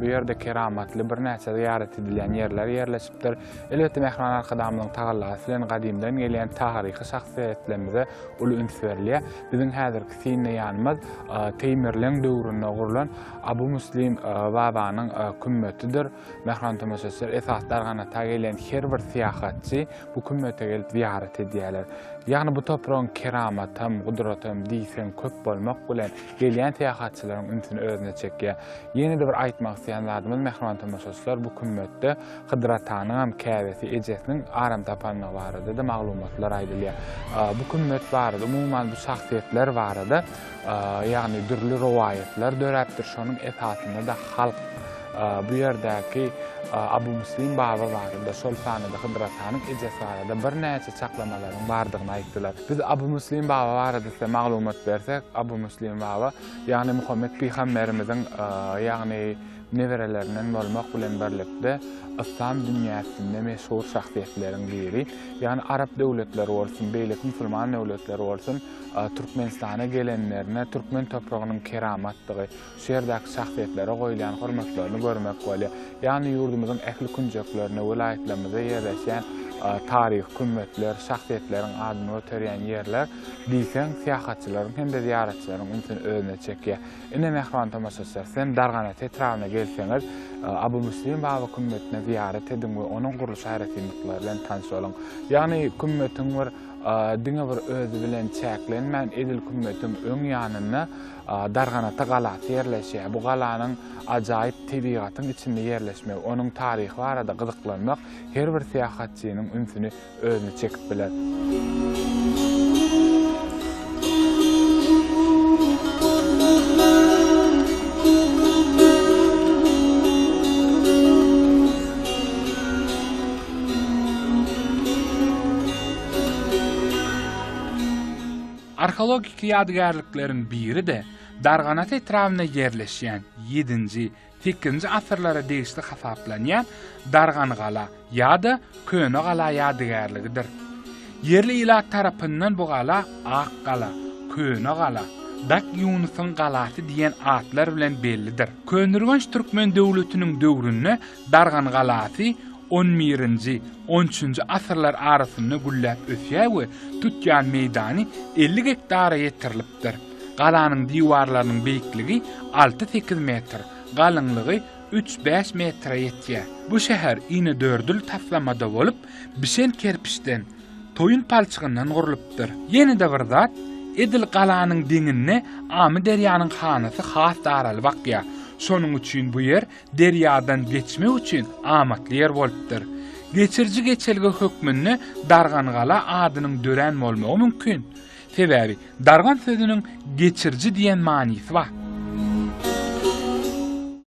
ýerde keramatly birnäçe zyýarat edilýän ýerler ýerleşipdir. Elbetde Mähriban Arkadagymyzyň tagallasy bilen gadymdan gelýän taryhy şahsyýetlerimize uly üns berilýär. Biziň häzirki synly ýanymyz Teýmirleň döwründe gurlan Abu Muslim babanyň kümmetidir. Mähriban tomaşaçylar, esasy darganata gelýän her bir syýahatçy bu kümmete gelip zyýarat edýärler. Ýagny bu topragyň keramatam, gudratam diýseň köp bolmak bilen, gelýän syýahatçylaryň ünsüni özüne çekýär. Ýene-de bir aýtmak isleýän zadymyz, mähriban tomaşaçylar, bu kümmetde Hydyr atanyňam käbesi ejesiniň aram tapandygy barada-da maglumatlar aýdylýar. Bu kümmet barada, umuman bu şahsyýetler barada ýagny dürli rowaýatlar döräpdir, şonuň esasynda-da halk bu ýerdäki Abu Muslim baba barada, şol sanda-da Hydyr atanyň ejesi barada birnäçe çaklamalaryň bardygyny aýtdylar. Biz Abu Muslim baba barada size maglumat bersek, Abu Muslim baba, ýagny Muhammet pygamberimiziň, ýagny neberelerinden bolmak bilen birlikde, yslam dünýäsinde meşhur şahsyýetleriň biri. Ýagny arap döwletleri bolsun, beýleki musulman döwletleri bolsun, Türkmenistana gelenlerine türkmen topragynyň keramatdygy, şu ýerdäki şahsyýetlere goýulýan hormatlaryny görmek bolýar. Ýagny ýurdumyzyň ähli künjeklerinde, welaýatlarymyzda ýerleşýän taryhy kümmetler, şahsyýetleriň adyny göterýän ýerler diýseň syýahatçylaryň hem-de zyýaratçylaryň ünsüni özüne çekýär. Ine, mähriban tomaşaçylar, siz hem Darganat etrabyna gelseňiz, Abu Muslim baba kümmetine zyýarat ediň we onuň gurluş aýratynlyklary bilen tanyş boluň. Ýagny kümmetiň bir. Diňe bir özi bilen çäklenmän, edil kümmetiň öň ýanynda Darganata galasy ýerleşýär. Bu galanyň ajaýyp tebigatyň içinde ýerleşmegi, onuň taryhy barada gyzyklanmak her bir syýahatçynyň ünsüni özüne çekip biler. Arheologik ýadygärlikleriň biri-de Darganat etrabynda ýerleşýän ýedinji, sekizinji asyrlara degişli hasaplanýan Dargangala ýa-da Könegala ýadygärligidir. Ýerli ilat tarapyndan bu gala Ak gala, Köne gala, Dak Ýunusyň galasy diýen atlar bilen bellidir. Köneürgenç türkmen döwletiniň döwründe Dargan galasy on birinji, on üçünji asyrlar arasynda gülläp ösýär we tutýan meýdany elli gektara ýetirilipdir. Galanyň diwarlarynyň beýikligi alty-sekiz metr, galyňlygy üç-bäş metre ýetýär. Bu şäher inedördül taslamada bolup, bişen kerpiçden, toýun palçygyndan gurlupdyr. Ýene-de bir zat, edil galanyň deňinde Amyderýanyň hanasy has daralyp akýar. Şonuň üçin bu ýer derýadan geçmek üçin amatly ýer bolupdyr. Geçiriji geçelge hökmünde Dargangala adynyň dörän bolmagy mümkin. Sebäbi dargan sözüniň geçiriji diýen manysy bar.